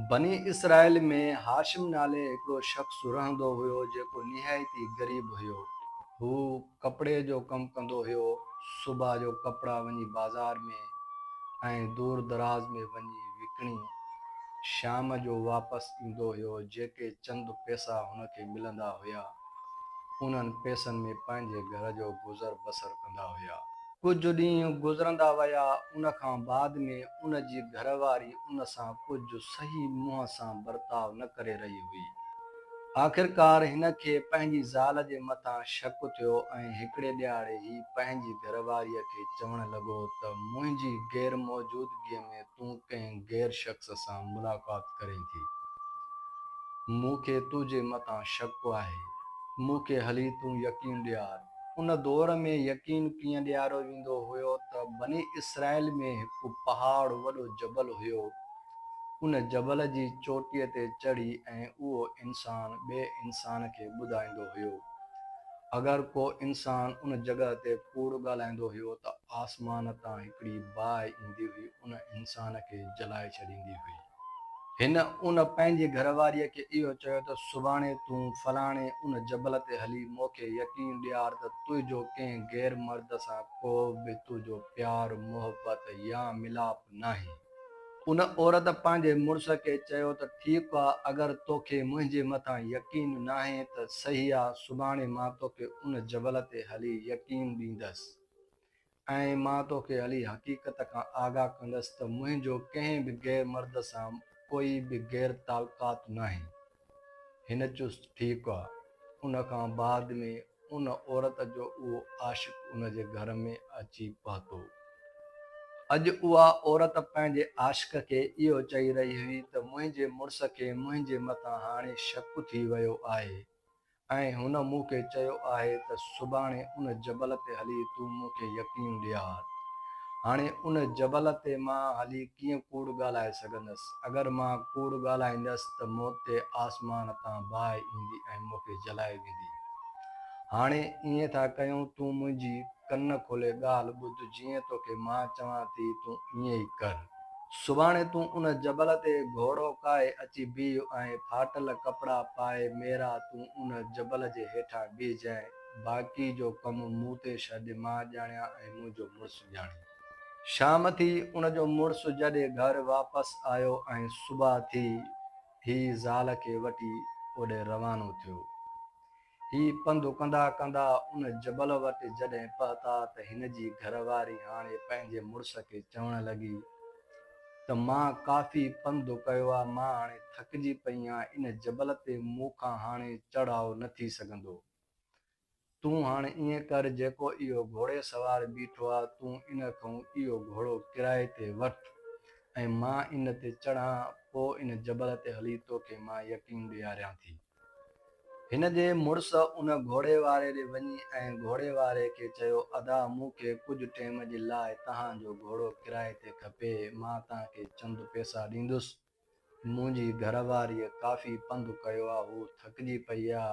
بني اسرائيل ۾ هاشم نالي هڪڙو شخص رهندو هيو جيڪو نهايت ئي غريب هيو. هو ڪپڙي جو ڪم ڪندو هيو. صبح جو ڪپڙا وڃي بازار ۾ ۽ دور دراز ۾ وڃي وڪڻي شام جو واپس ايندو هيو. جيڪي چند پئسا هن کي ملندا هيا، انهن پئسن ۾ پنهنجي گهر جو گذر بسر ڪندا هيا. ڪجهه ڏينهن گذرندا ويا، ان کان بعد ۾ ان جي گهر واري ان سان ڪجهه صحيح منهن سان برتاء نه ڪري رهي هئي. آخرڪار هن کي پنهنجي زال جي مٿان شڪ ٿيو ۽ هڪڙي ڏهاڙي هي پنهنجي گهر واريء کي چوڻ لڳو ته منهنجي غير موجودگيء ۾ تون ڪنهن غير شخص سان ملاقات ڪرين ٿي. مون کي تنهنجي مٿان شڪ آهي. مون کي هلي تون يقين ڏيار. ان دور ۾ يقين ڪيئن ڏياريو ويندو هيو ته بني اسرائيل ۾ هڪ پهاڙ، وڏو جبل، هيو. ان جبل جي چوٽيء تي چڙهي ۽ اهو انسان ٻئي انسان کي ٻڌائيندو هيو. اگر ڪو انسان ان جڳهه تي ڪوڙ ڳالهائيندو هيو ته آسمان تان هڪڙي باهه ايندي هئي ان انسان کي جلائي ڇڏيندي هئي. هن ان پنهنجي گهر واريء کي اهو چيو ته سڀاڻي تون فلاڻي ان جبل تي هلي مون کي يقين ڏيار ته تنهنجو ڪنهن غير مرد سان ڪو به تنهنجو پيار، محبت يا ملاپ ناهي. ان عورت پنهنجي مڙس کي چيو ته ٺيڪ آ، اگر توکي منهنجي مٿان يقين ناهي ته صحيح آ، سڀاڻي مان توکي ان جبل تي هلي يقين ڏيندس. ۽ مان توکي علي حقيقت کان آگاهه ڪندس ته منهنجو ڪنهن به غير مرد سان ڪوئي به غير تعلقات ناهي. هن چست ٺيڪ آ. ان کان بعد ۾ ان عورت جو اهو عاشق ان جي گهر ۾ اچي پهتو. اڄ اها عورت پنهنجي عاشق کي اهو چئي رهي هئي ته منهنجي مڙس کي منهنجي مٿان هاڻي شڪ ٿي ويو آهي. ۽ هن مون کي چيو آهي ته سڀاڻي ان جبل تي هلي تون مون کي يقين ڏيار. هاڻي ان جبل تي مان هلي ڪيئن ڪوڙ ڳالهائي سگهندس؟ اگر مان ڪوڙ ڳالهائيندس ته موت تي آسمان تان باهه ايندي ۽ مون کي جلائي ويندي. هاڻي ائين ٿا ڪيون تون منهنجي ڪن کولي ڳالهه ٻڌ جيئن توکي مان چوان ٿي تون ائين ئي ڪر. سڀاڻي تون ان جبل تي گهوڙو ڪاهي اچي بيهه ۽ ڦاٽل ڪپڙا پائي ميرا تون ان جبل جي هيٺان بيهجانء، باقي جو ڪم مون تي ڇڏ، مان ڄاڻيان ۽ منهنجو مڙس ڄاڻي. شام ٿي، ان جو مڙس جڏي گهر واپس آيو ۽ صبح ٿي، هي زال کي وٺي اوڏي روانو ٿيو. هي پنڌ ڪندا ڪندا ان جبل وٽ جڏهن پهتا ته هن جي گهر واري هاڻي پنهنجي مڙس کي چوڻ لڳي ته مان ڪافي پنڌ ڪيو آ مان هاڻي ٿڪجي پئي آهيان ان جبل تي مون کان هاڻي چڙهاء نه ٿي سگهندو تون هاڻي ائين ڪر جيڪو اهو گهوڙي سوار بيٺو آ تون ان کئون اهو گهوڙو ڪرائي تي وٺ ۽ مان ان تي چڙهان پو ان جبل تي هلي توکي مان يقين ڏياريان ٿي. هن جي مڙس ان گهوڙي واري ڏي وڃي ۽ گهوڙي واري کي چيو، ادا مون کي ڪجهه ٽيم جي لاء توهان جو گهوڙو ڪرائي تي کپي، مان توهان کي چند پيسا ڏيندس. منهنجي گهر واريء ڪافي پنڌ ڪيو آ، هوء ٿڪجي پئي آ.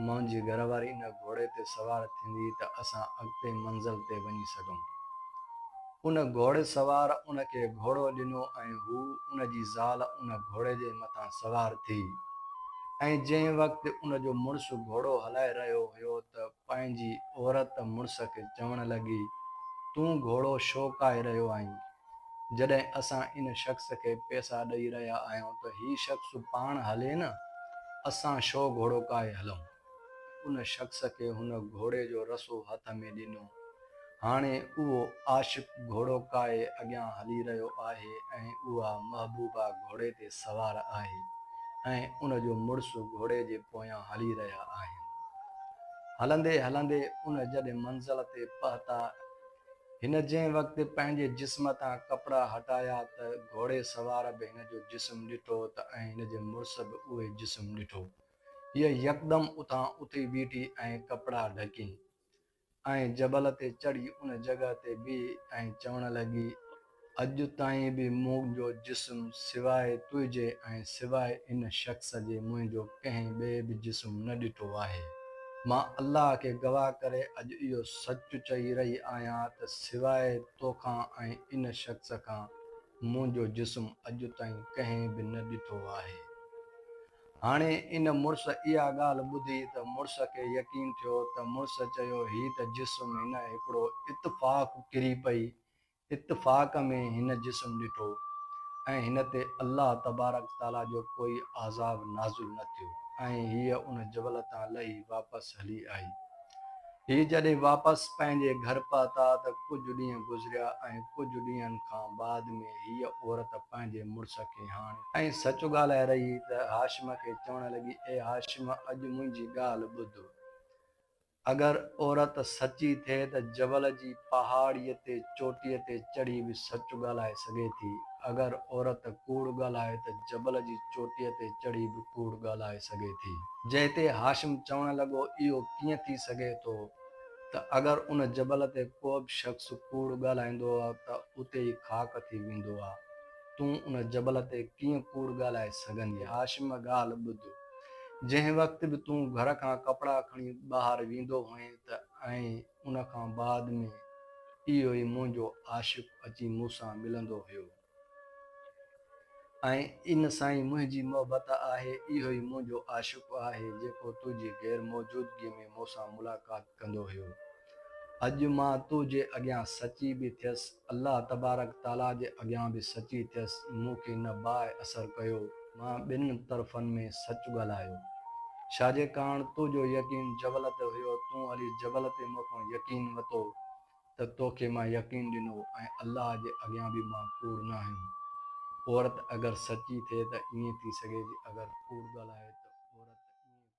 منهنجي گهر واري ان گهوڙي تي سوار ٿيندي ته اسان اڳتي منزل تي وڃي سگهون. ان گهوڙي سوار ان کي گهوڙو ڏنو ۽ هو ان جي زال ان گهوڙي جي مٿان سوار ٿي ۽ جنهن وقت ان جو مڙس گهوڙو هلائي رهيو هيو ته پنهنجي عورت مڙس کي چوڻ لڳي تون گهوڙو شو ڪاهي رهيو آهين جڏهن اسان ان شخص کي پيسا ڏئي رهيا آهيون ته هي شخص پاڻ هلي نه اسان شو گهوڙو ڪاهي هلون. ان شخص کي هن گهوڙي جو رسو هٿ ۾ ڏنو. هاڻي اهو عاشق گهوڙو ڪاهي اڳيان هلي رهيو آهي ۽ اها محبوبا گهوڙي تي سوار آهي ۽ ان جو مڙس گهوڙي جي پويان هلي رهيا آهن. هلندي هلندي ان جڏهن منزل تي پهتا، هن جنهن وقت پنهنجي جسم تان ڪپڙا هٽايا ته گهوڙي سوار به هن جو جسم ڏٺو ته ۽ هن جي مڙس به اهوئي جسم ڏٺو. هيء يڪدم اتان اٿي بيٺي ۽ ڪپڙا ڍڪين ۽ جبل تي چڙهي ان جڳهه تي بيهي ۽ چوڻ لڳي، اڄ تائين به منهنجو جسم سواء تنهنجي ۽ سواء ان شخص جي منهنجو ڪنهن ٻئي به جسم نه ڏٺو آهي. مان الله کي گواهه ڪري اڄ اهو سچ چئي رهي آهيان ته سواء توکان ۽ ان شخص کان منهنجو جسم اڄ تائين ڪنهن به نه ڏٺو آهي. هاڻي ان مڙس اها ڳالهه ٻڌي ته مڙس کي يقين ٿيو ته مڙس چيو هي ته جسم هن هڪڙو اتفاق ڪري پئي، اتفاق ۾ هن جسم ڏٺو ۽ هن تي الله تبارڪ تعاليٰ جو ڪوئي عذاب نازل نه ٿيو ۽ هيء ان جبل تان لهي واپس هلي آئي. هي جڏهن واپس پنهنجي گهر پهتا ته ڪجهه ڏينهن گذريا ۽ ڪجهه ڏينهن کان بعد ۾ هيء عورت پنهنجي مڙس کي هاڻي ۽ سچ ڳالهائي رهي هئي ته هاشم کي چوڻ لڳي، اي هاشم! اڄ منهنجي ڳالهه ٻڌ. اگر عورت سچي ٿئي ته جبل جي پهاڙيء تي چوٽيء تي چڙهي به سچ ڳالهائي سگهي ٿي. اگر عورت ڪوڙ ڳالهائي ته جبل جي چوٽيء تي چڙهي به ڪوڙ ڳالهائي سگهي ٿي. جنهن تي هاشم چوڻ لڳو، اهو ڪيئن ٿي سگهي ٿو ته اگر ان جبل تي ڪوبه شخص ڪوڙ ڳالهائيندو ته اتي ئي خاڪ ٿي ويندو آ. تون ان جبل تي ڪيئن ڪوڙ ڳالهائي سگهندين؟ هاشم ڳالهه ٻڌ. جنهن وقت به تون گهر کان ڪپڙا کڻي ٻاهر ويندو هئين ته ۽ ان کان بعد ۾ اهو ئي منهنجو عاشق اچي مون سان ملندو هيو. ۽ ان سان ئي منهنجي محبت آهي، اهو ئي منهنجو عاشق آهي، جيڪو تنهنجي غير موجودگيء ۾ مون سان ملاقات ڪندو هيو. اڄ مان تو جي اڳيان سچي به ٿيس، الله تبارڪ تعاليٰ جي اڳيان به سچي ٿيس، مون کي نه باهه اثر ڪيو، مان ٻن طرفن ۾ سچ ڳالهايو. شاهجي ڪاڻ، تو جو يقين جبل تي هيو، تون هلي جبل تي مون کان يقين وتو. ته تو کي مان يقين ڏنو ۽ الله جي اڳيان به مان ڪوڙ ناهيون. عورت اگر سچي ٿئي ته ائين ٿي سگهي ٿي اگر ڪوڙ ڳالهائي ته عورت ائين ڪوڙ ڳالهائي سگهي ٿي.